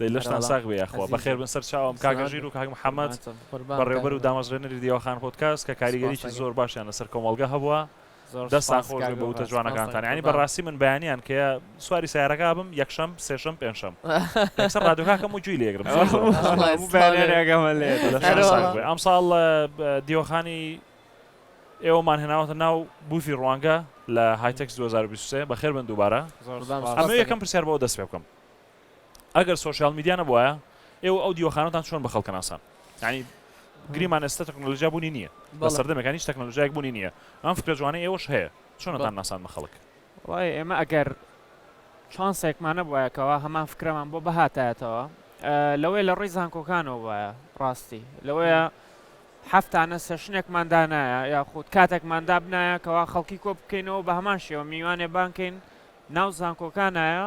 دەی لەشتان ساغ بێ یاخوا. بەخێر بن سەر چاوم کاکە ژیر و کاک محەمەد بەڕێوبەر و دامەزرێنەری دیوەخان پۆدکاست کە کاریگەریی زۆر باشیان لەسەر کۆمەڵگە هەبوە. دەستان خۆش بێ بە وتە جوانەکانتان یانی بەڕاستی من بەیانیان کە سواری سەیارەکە ئەبم یەکشەم سێشەم پێنجشەم یەکسەر ڕادیۆکە ئەکەم و گوێی لێ ئەگرم زۆر زۆر هەموو بەیانیانێکەمە لێ لەشتان ساغ بێ ئەمساڵ دیوەخانی ئێوەمان هێناوەتە ناو بوفی ڕوانگە لە هایتەکس دوو هەزار و بیست و سێ بەخێر بن دووبارە ئەمەوێ یەکەم پرسیار بۆ دەست پێ بکەم ئەگەر سۆشیال میدیا نەبوایە ئێوە ئەو دیوەخانەتان چۆن بە خەڵکە ناسان ینی گریمان ئێستا تەکنۆلژیا بوونی نییە بە سەردەمەکان هیچ تەکنۆلژیایك بوونی نییە ئەم فکرە جوانە ئێوەش هەیە چۆنتان ناسان بە خەڵک وای ئێمە ئەگەر چانسێکمانە بواەکەەوە هەمان فکرەمان بۆ بەهاتایەتەوە لەوەی لە ڕێی زانکۆکانەوە وایە ڕاستی لەوەیە هەفتانە سەشنێکمان دانایە یاخود کاتێکمان دابنایە کەوا خەڵکی کۆ بکەینەوە بە هەمان شێوە میوانێ بانکەین ناو زانکۆکانایە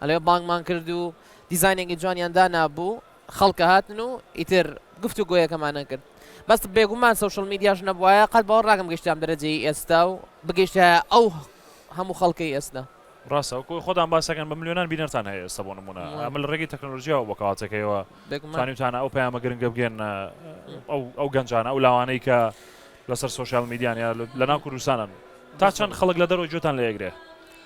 ئەلێ بانگمان کرد و دیزاینێکی جوانیان دانابوو خەڵکە هاتن و ئیتر گفت و گۆیەکەمانە کرد بەس بێگومان سوشل میدیاش نەبواە قەت بەوە ڕاگەم گەشتام دەرەجەی ئێستا و بگەشتە ئەو هەموو خەڵکەی ئێستا. ڕاستە وەکو خۆتان باسەکەن بە ملیۆنان بینەرتان هەیە ئێستا بۆ نمونە ئەمە لە ڕێگەی تەکنەلۆژیاوە بۆ کەاتێکەوە توانیوتانە ئەو پەیامە گرنگە بگەێنە ئەو گەنجانە ئەو لاوانەی کە لەسەر سوۆشال میدیانە لە ناو کوردستانن تا چەند خەڵک لە دەرەوە جوتان لە ئەگرێ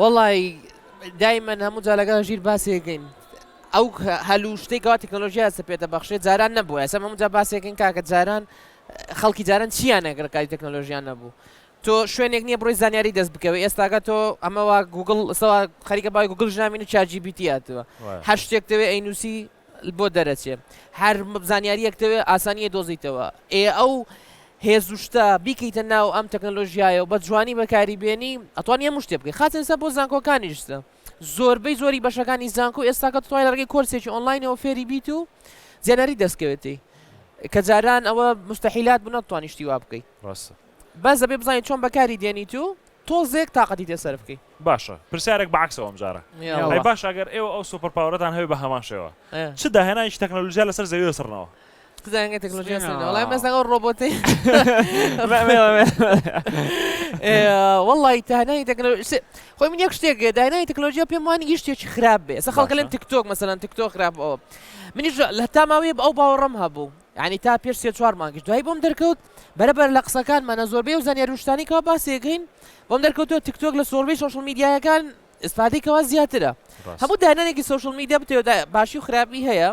وەڵی دایمەن هەموو جا لەگەڵ ژیر باسێکین ئەو هەلو شتێک گەوا تەکنۆلۆژیا سە پێێتە بەخشێت جاران نەبوو ئەسە هەموو جا باسێکین کاکە جاران خەڵکی جاران چیان نەگرکاری تەکنۆلۆژیان نەبوو تۆ شوێنێک نییە بڕی زانیاری دەست بکەوە ئێستاگە تۆ ئەمەوە گوگل سەوا خەریکە بای گوگل ژنامین و چاجی بیتیاتەوە هەر شتێک دەوێ ئەینوسی بۆ دەرەچێ هەر زانیاریەک دەوێ ئاسانیە دۆزیتەوە ئێ ئەو هێز و شتە بیکەیتە ناو ئەم تەکنەلۆژیایە و بە جوانی بەکاری بێنی ئەتوانی هەموو شتێ بکەی خاچە ئێستا بۆ زانکۆکانی شتە زۆربەی زۆری بەشەکانی زانکۆ ئێستاکە توای لەڕگەی کۆرسێکی ئۆنلاینەوە فێری بیت و زیاناری دەستکەوێتی کە جاران ئەوە مستحیلات بوو نەتوانیشتی وا بکەیت ڕاستە بەس دەبێ بزانین چۆن بەکاری دێنیت و تۆزێک تااقەتی تێ سەر بکەیت باشە پرسیارێک بە عەکسەوە ئەمجارە ئەی باشە ئەگەر ئێوە ئەو سوپەر پاوەرەتان هەبێت بە هەمان شێوە چ داهێنانێکی تەکنەلۆژیا لەسەر زەوی دەسڕنەوە؟ چ داهێنانی تەکنەلۆژیا دەسڕنەوە؟ وەڵای مەسەڵەن ئەو ڕۆبۆتەی وەڵڵی داهێنانی تەکنەلۆژیا خۆی من یەک شتێک داهێنانی تەکنەلۆژیا پێم وانی هیچ شتێکی خراپ بێ ئەسڵەن خەڵکە لەم تیکتۆک مەسەڵەن تیکتۆک خراپ ئەوە منیش لە هەتا ماوەیە ئەو باوەڕەم هەبوو یانی تا پێش سێ چوار مانگیش دوایی بۆم دەرکەوت بەرەبەر لە قسەکانمان لە زۆربەی و زانیاری و شتانی کەوا باسی دەکەین بۆم دەرکەوتووە تیک تۆک لە زۆربەی سۆشیال میدیایەکان ئیسفادەی کەوا زیاترە ڕاست هەموو دانانێکی سۆشیال میدیا بتەوێت دا باشی و خراپی هەیە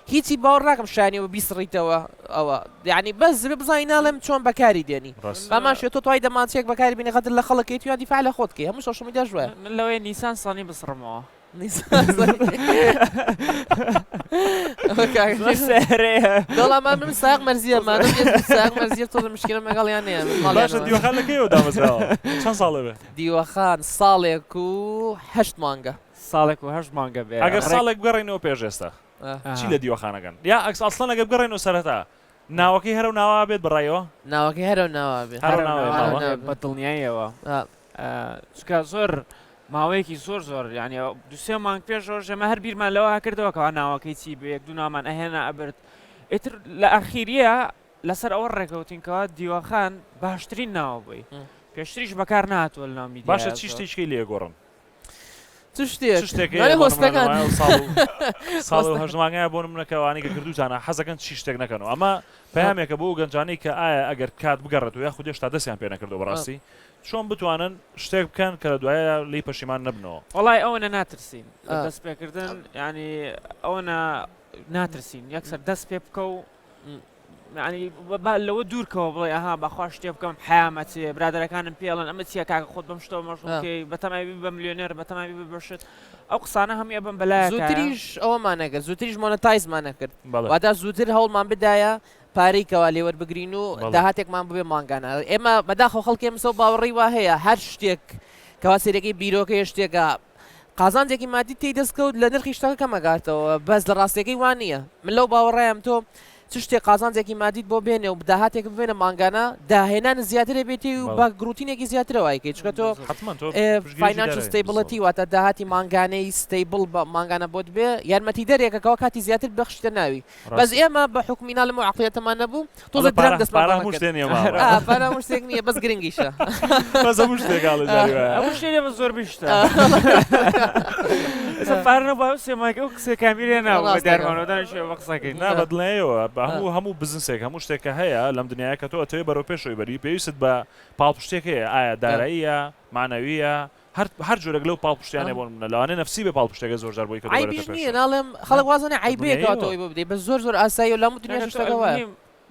هیچی باوەڕ ناکەم شایانی و بیسڕیتەوە ئەوە یعنی بەس زبێ بزانی ناڵێم چۆن بەکاری دێنی ڕاست بامان شێ تۆ توای دەمانچەیەک بەکاری بینی غەدر لە خەڵکیت یا دیفاع لە خۆت کەی هەموو سۆشیال میدیاش وایە من لەوەیە نیسان سانی بسڕمەوە دەڵامان من ساق مەرزیە مەرزیە تۆ مشکلە مەگەڵیان چەند ساڵێ بێ دیوەخان ساڵێک و هەشت مانگە ساڵێک و هەشت مانگە بێ ئەگەر ساڵێک بگەڕێنەوە پێش ئێستا چی لە دیوەخانەکەن یا ئەکس ئەسڵەن ئەگەر بگەڕێنەوە سەرەتا ناوەکەی هەرو ناوا بێت بڕایەوە ناوەکەی هەرو ناوا بێت بە دڵنیایەوە چونکە زۆر ماوەیەکی زۆر زۆر یعنی دوسێ مانگ پێشەوە ژێمە هەر بیرمان لەوە کردەوە کەوا ناوەکەی چی بە یەک دوونامان ئەهێنا ئەبرد ئیتر لە ئاخیریە لەسەر ئەوە ڕێکەوتینکەوە دیوەخان باشترین ناوە بووی پێشتریش بەکار ناتوە نامی باشە چی شتێکی لێگۆڕن هەژمانگای بۆ منەکەوانی کە کردوتانە حەزەکەن چی شتێک نەکەن و ئەمە پامێکە بۆ گەنجانی کە ئایا ئەگەر کات بگەڕێت و یا خودێش تا دەستیان پێ نەکردو بەڕاستی چۆن بتوانن شتێک بکەن کە لە دواییدا لێی پەشیمان نەبنەوە؟ وەڵای ئەوەنە ناترسین لە دەست پێکردن یانی ئەوەنە ناترسین یەکسەر دەست پێ بکە و ینی با لەوە دوورکەوە بڵێ ئەها بەخوا شتێ بکەم حیامەتێ برادەکانم پێڵن ئەمە چیە کاکە خۆت بەم شتەوە مەشڵکەی بەتەمای بە ملیۆنێر بەتەمای ببەشت ئەو قسانە هەموو بم بەلای زووتریش ئەومانەگە زووتریش مۆنەتایزمانە کرد وادا زووتر هەوڵمان بدایە پارەی کەوا لێ وەربگرین و بەڵێ. داهاتێکمان ببێ مانگانە. ئێمە بەداخەوە خەڵکی ئەمسە و باوەڕی وا هەیە هەر شتێک کەوا سەیرەکەی بیرۆکە یە شتێکە قازانجێکی ماددی تێی دەست کەوت لە نرخی شتەکە کەم ئەگاتەوە بەس لە ڕاستیەکەی وا نییە. من لەو باوەڕایم تۆ چ شتێک قازانجێکی ماددیت بۆ بێنێ و داهاتێک ببێنە مانگانە داهێنانت زیاترە بێتی و بەڵێ. بە گڕوتینێکی زیاترە وای کەی چونکە تۆ بەزەحمەتە. حەتمەن تۆ ئێ پشتگیریی فاینانچ دارایی بیت سەد. ستەیبڵەتی واتە داهاتی مانگانەی ستەیبڵ بە مانگانە بۆت بێ یارمەتیدەرێکە کەوا کاتی زیاتر ببەخشیتە ناوی. بەس ئێمە بە حوکمی نالم و عەقڵیەتەمان نەبوو تۆزێ درەنگ دەستمان پارە هەموو شتێ نیە مامە ئا پارە هەموو شتێک نیە بەس گرنگیشە بەس هەموو شتێک ئاڵێ جاری وایە هەموو شتێ نیە بەس زۆر بیشتە ئێستا پارە نەبوو ئەو سێمایکە ئەو قسەی کامیری هێناوە بە ڕاستە. دیارمانەوە دانیشتووە بە قسەکەی نا بەدڵنیایەوە بە هەموو هەموو بزنسێک هەموو شتێک کە هەیە لەم دنیاە کە تۆ ئەتەوێ بەرەو پێشەوەی بەری پێویستت بە پاڵپشتێک هەیە ئایا داراییە معنەویە هەر هەر جۆرێک لەو پاڵپشتیانە بۆ نمونە لەوانەیە نەفسی بێ پاڵپشتێکە زۆر جار بۆی کە دەبەرێتە پێشەوە عەیبیش نییە ناڵێم خەڵک واز دەنێ عەیبە یەکە واتە ئەوەی بۆ بدەی بەس زۆر زۆر ئاساییە لە هەموو دنیاش شتەکە وایە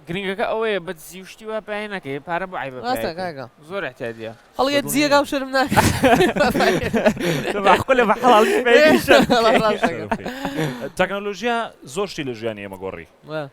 گرنگەکە ئەوەیە بە دزی و شتی وا پەیای نەکەی پارە بۆ عیبە ڕاستە کاکە زۆر احتیاجە هەڵیە دزیەکە و شەرم ناکە لە بەحڵال تەکنۆلۆژیا زۆر شتی لە ژیانی ئێمە گۆڕی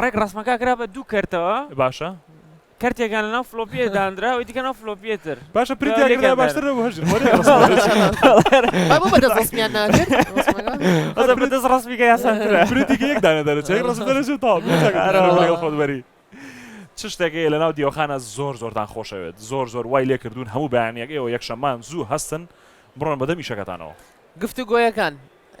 ڕێکڕەسمەکە کرا بە دوو کەرتەوە. باشە. کەرتێکیان لەناو فلۆپییە داندرا، ئەوی دیکە لەناو فلۆپییە تر. باشە پرینت یا کرد باشتر نەبوو هەژر بۆ ڕێکڕەسمەکە. بۆ بەدەست ڕەسمیان ناکرد؟ ڕەسمەکە. بەدەست ڕەسمیکە یاساترە. پرینتێکی یەک دانە دەرەچێ، یەک ڕەسم دەرەچێ و تەواو. پرینت یا کرد باشتر نەبوو لەگەڵ خۆت بەری. چ شتێک هەیە لەناو دیوەخانە زۆر زۆرتان خۆشەوێت؟ زۆر زۆر وای لێ کردوون هەموو بەیانییەک ئێوە یەکشەممان زوو هەستن بڕۆن بەدەم ئیشەکەتانەوە. گفتوگۆیەکان.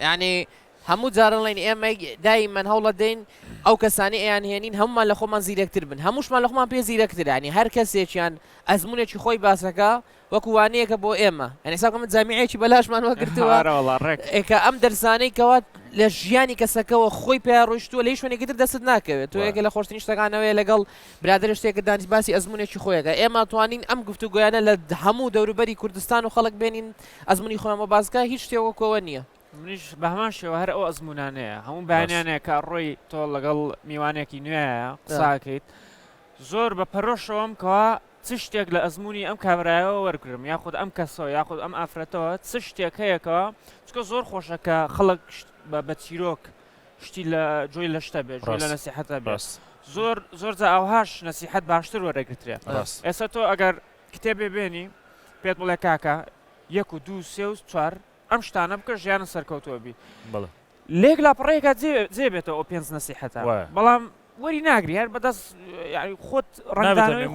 یانی هەموو جارەڵێین ئێمەی دایمەن هەوڵەدەین ئەو کەسانی ئەیان هێنین هەمومان لە خۆمان زیرەکتر بن هەمووشمان لە خۆمان پێ زیرەکترانی هەر کەسێکیان ئەزمونێکی خۆی باسەکە وەکو وانەیەکە بۆ ئێمە ئەنیساکە من جامیەکی بەلاشمان وەگرتووە ئێکە ئەم دەرزانەی کەوات لە ژیانی کەسەکەەوە خۆی پێ ڕۆشتووە لەی شوێنێکتر دەست ناکەوێت تۆ یەکە لە خۆشتنی شتەکانەوەی لەگەڵ برادر شتێکە دانیش باسی ئەزمونێکی خۆیەکە ئێمە توانین ئەم گفتو گویانە لە هەموو دەوروبەری کوردستان و خەڵک بێنین ئەزمموی خۆمە بازگا هیچ شتێوەکەوە نییە منیش بە هەمان شێوە هەر ئەو ئەزمونانەیە هەموو بەیانیانەیە کە ڕۆی تۆ لەگەڵ میوانێکی نوێیە قساکەیت زۆر بە پەرۆشەوەم کەوا چ شتێک لە ئەزمموی ئەم کابراایەوە وەرگرم یاخود ئەم کەسەوە یاخود ئەم ئافرەتەوە چ شتێک هەیەکەوە چکە زۆر خۆشە کە خەڵک بە بە چیرۆک شتی لە جۆی لە شتە بێت لە نسیحەتە بەس زۆر زۆر جا ئەوهاش نسیحەت باشتر وەرەگرترێ ئێستا تۆ ئەگەر کتێبێ بێنی پێت بڵێ کاکە یەک و دوو سێ و چوار ئەم شتانە بکە ژیانت سەرکەوتووە بی بەڵێ لێک لاپەڕەیەکە جێ بێتەوە ئەو پێنج نەسیحەتە بەڵام وەری ناگری هەر بەدەست خۆت ڕەنگدانەوەی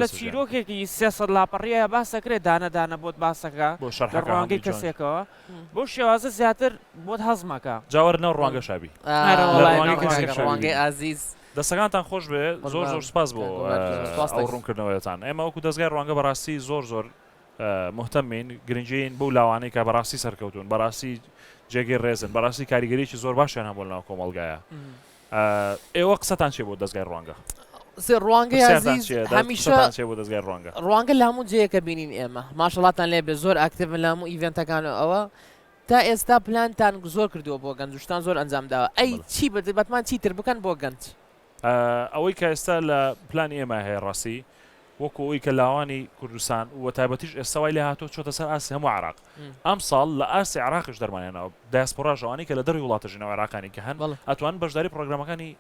لە چیرۆکێکی سێسەد لاپەڕیە باسەکرێت دانەدانە بۆت باسەکە بۆ شەڕڕوانگەی کەسێکەوە بۆ شێوازە زیاتر بۆت هەزمەکە جاوەر ناو ڕوانگە شابی ڕوانگەی ئازیز دەستەکانتان خۆش بێ زۆر زۆر سپاس بۆ ڕوونکردنەوەیتان ئێمە وەکو دەستگای ڕوانگە بەڕاستی زۆر زۆر موهتەمین، گرنگین بەو لاوانەی کە بەڕاستی سەرکەوتوون، بەڕاستی جێگەی ڕێزن، بەڕاستی کاریگەریەکی زۆر باشیان هەبووە لەناو کۆمەڵگایا. ئێوە قسەتان چیە بۆ دەزگای ڕوانگە؟ ڕوانگەی ئازیز هەمیشە قسەتان چیە بۆ دەزگای ڕوانگە؟ ڕوانگە لە هەموو جێیەکە بینین ئێمە، ماشەڵاتان لێ بێت زۆر ئاکتیڤن لە هەموو ئیڤێنتەکان و ئەوە، تا ئێستا پلانتان زۆر کردووە بۆ گەنج و شتان زۆر ئەنجام داوە، ئەی چی بەتمان چیتر بکەن بۆ گەنج؟ ئەوەی کە ئێستا لە پلانی ئێمە هەیە ڕاستی وەکو ئەوی کە لاوانی کوردستان و تایبەتیش ئێستا وای لە هاتۆ چۆتە سەر ئاسی هەموو عراق ئەم ساڵ لە ئاسی عراقش دەرمانێنەوە داسپۆراژەوانی کە لە دەری وڵاتە ژنەوە عراقانی کە هەن ئەتوان بەشداری پرۆگرامەکانی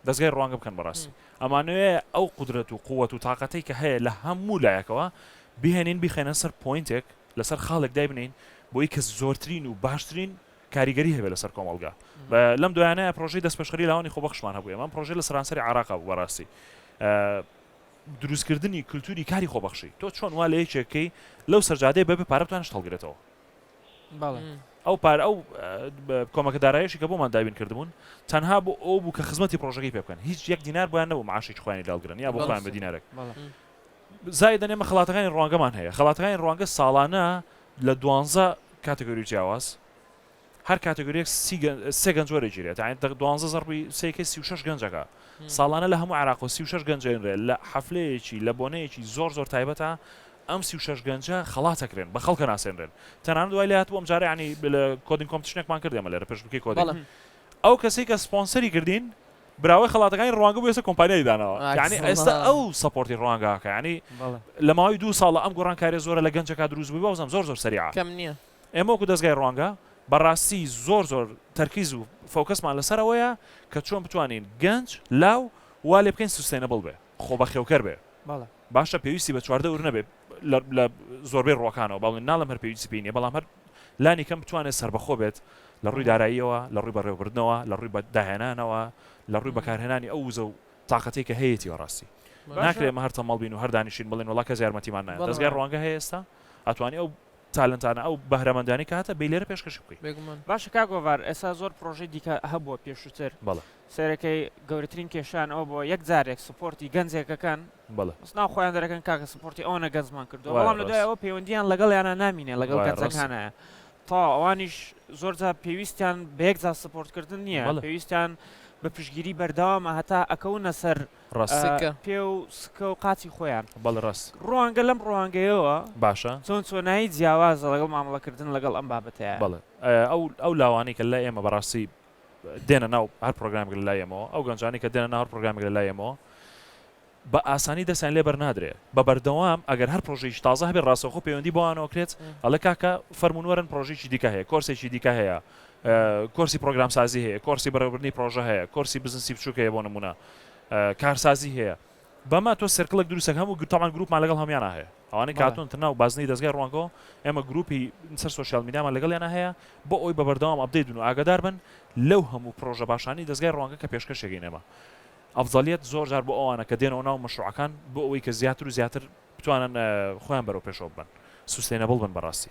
دەستگای ڕوانگە بکەن بەڕاستی ئەمانوێ ئەو قدرەت و قووەت و تااقەتی کە هەیە لە هەموو لایەکەوە بهێنین بخێنە سەر پوینتێک لەسەر خاڵێک دای بنین بۆی کە زۆرترین و باشترین و کاریگەری هەبێت لەسەر کۆمەڵگا بە لەم دوایانە پرۆژەی دەستپێشخەری لاوانی خۆبەخشمان هەبوو ئەمە پرۆژە لە سەرانسەری عراقا بوو بەڕاستی دروستکردنی کللتوری کاری خۆبەخشی تۆ چۆن وا لە یەکێکەکەی لەو سەرجادەیە بەبێ پارەتوان شتەڵگرێتەوە ئەو پار ئەو کۆمەکە دارایشی کە بۆمان دابین کردبوون تەنها بۆ ئەو بوو کە خزمەتی پرۆژەکەی پێ بکەن هیچ یەک دینار بۆیان نەبوو معاشی خوانی داڵگرن یا بۆخوایان بە دینارێک زای دەنێمە خڵاتەکانی ڕوانگەمان هەیە خڵاتەکانی ڕوانگە ساڵانە لە دوانزە کاتەگۆری جیاواز هەر کاتەگۆریەک سی گەن... سێ گەنج وەرەگیرێت یعنی دە- دوانزە زەربی سێکەی سی و شەش گەنجەکە ساڵانە لە هەموو عێراقەوە سی و شەش گەنج ئەینرێ لە حەفلەیەکی لە بۆنەیەکی زۆر زۆر تایبەتە ئەم سی و شەش گەنجە خەڵات ئەکرێن بە خەڵک ئەناسێنرێن تەنانەت وای لێ هاتبوو ئەمجارە یعنی لە کۆدینگ کۆمپتیشنێکمان کرد ئێمە لێرە پێشبڕکێی کۆدینگ بەڵێ ئەو کەسەی کە سپۆنسەری کردین براوەی خەڵاتەکانی ڕوانگە بۆ ئێستا کۆمپانیای داناوە یانی ئێستا ئەو سەپۆرتی ڕوانگاکە ینی لە ماوەی دوو ساڵە ئەم گۆڕانکاریە زۆرە لە گەنجەکە دروست بووی بەوزم زۆر زۆر سەریع کەم نییە ئێمە وەکو دەستگای ڕوانگە بەڕاستی زۆر زۆر تەرکیز و فۆکەسمان لەسەرەوەیە کە چۆن بتوانین گەنج لاو وا لێ بکەین سوستێنەبڵ بێ خۆبەخێوکەر بێ باشە پێویستی بە چواردە ور نەبێ لە زۆربەی ڕووەکانەوە بەڵێ ناڵم هەر پێویستی پێی نیە بەڵام هەر لانی کەم بتوانێت سەربەخۆ بێت لە ڕووی داراییەوە لە ڕووی بەڕێوەبردنەوە لە ڕووی بەداهێنانەوە لە ڕووی بەکارهێنانی ئەو وزە و تااقەتی کە هەیەی وەڕاستی ناکرێت مە هەر تەمەڵ بین و هەردانیشین بڵین وڵا کەس یارمەتیمان نایە دەستگای ڕوانگە هەیە ئێستا ئەتوانی ئەو تالنتانە ئەو بەهرەمەندانی کاتە بی لێرە پێشکەش بکەین باشە کا گۆڤار ئێستا زۆر پرۆژەی دیکە هەبووە پێشووتر بەڵە سەرەکەی گەورەترین کێشەیان ئەوە بووە یەک جارێک سپۆرتی گەنجێکەکەن بەڵێ. بەس ناو خۆیان دەرەکەن کاکە سپۆرتی ئەوەنە گەنجمان کردووە وایە بەڵام لە دوای ڕاست. ئەوە پەیوەندییان لەگەڵیانا نامینێ لەگەڵ وایە ڕاستە. گەنجەکانایە تەواو ئەوانیش زۆر جار پێویستیان بە یەک جار سپۆرت کردن نییە بەڵێ. پێویستیان بە پشتگیری بەردەوامە هەتا ئەکەونە سەر ڕاست. ئە، سکە. پێ و سکە و قاچی خۆیان. بەڵێ ڕاست. ڕوانگە لەم ڕوانگەیەوە باشە. چۆن چۆنایی جیاوازە لەگەڵ مامەڵە کردن لەگەڵ ئەم بابەتەیە. بەڵێ ئە، ئەو ئەو لاوانەی کە لای ئێمە بەڕاستی دێنە ناو هەر پرۆگرامێک لە لای ئێمەوە، ئەو گەنجانەی کە دێنە ناو هەر پرۆگرامێک لە لای ئێمەوە بە ئاسانی دەستیان لێ بەرنادرێ، بە بەردەوام ئەگەر هەر پرۆژەیەکی تازە هەبێ ڕاستەوخۆ پەیوەندی بەوانەوە کرێت، ئەڵێ کاکە فەرموون وەرن پرۆژەیەکی دیکە هەیە، کۆرسێکی دیکە هەیە، کۆرسی پرۆگرامسازی هەیە، کۆرسی بەڕێوەبردنی پرۆژە هەیە، کۆرسی بزنسی بچووک هەیە بۆ نموونە، کارسازی هەیە. بەمە تۆ سێرکڵێک دروستەکە هەموو گروپ تاوان گروپمان لەگەڵ هەمویانا هەیە ئەوانەی بەڵێ کاتون تر ناو بازنەی دەزگای ڕوانگەوە ئێمە گروپی سەر سۆشیال میدیامان لەگەڵیانا هەیە بۆ ئەوەی بە بەردەوام ئەپدەیت بن و ئاگادار بن لەو هەموو پڕۆژە باشانەی دەزگای ڕوانگە کە پێشکەشیەکەین ئێمە ئەفزەلیەت زۆر جار بۆ ئەوانە کە دێنەوە ناو مەشروعەکان بۆ ئەوەی کە زیاتر و زیاتر بتوانن خۆیان بەرەو پێشەوە ببەن سوستەینەبڵ بن بەڕاستی.